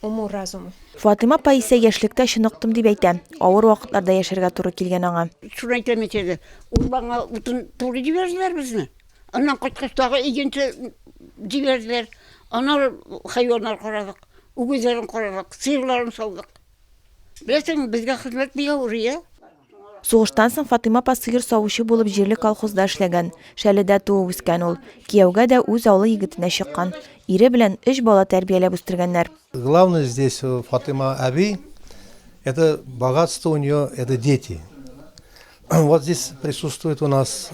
уму-разуму. Фатыйма апа исә яшьлектә чыныктым дип әйтә. Авыр вакытларда яшәргә туры килгән аңа. Шуны әйтәм мин сезгә, урманга утын турый җибәрделәр безне. Аннан кайткач, тагы игенче җибәрделәр. Аннары хайваннар карадык. Үгезләрен карадык, сыерларын саудык. Беләсеңме, безгә хезмәт бик авыр, ия. Сугыштан соң Фатыйма апа сыер савучы булып җирле колхозда эшләгән. Шәледә туып-үскән ул. Кияүгә дә үз авылы егетенә чыккан. Ире белән өч бала тәрбияләп үстергәннәр. Главный здесь у Фатыйма әби, это богатство у нее, это дети. Вот здесь присутствует у нас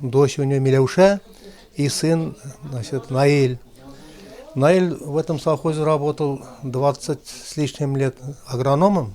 дочь у нее Миләүшә и сын, значит, Наил. Наил в этом совхозе работал 20 с лишним лет агрономом.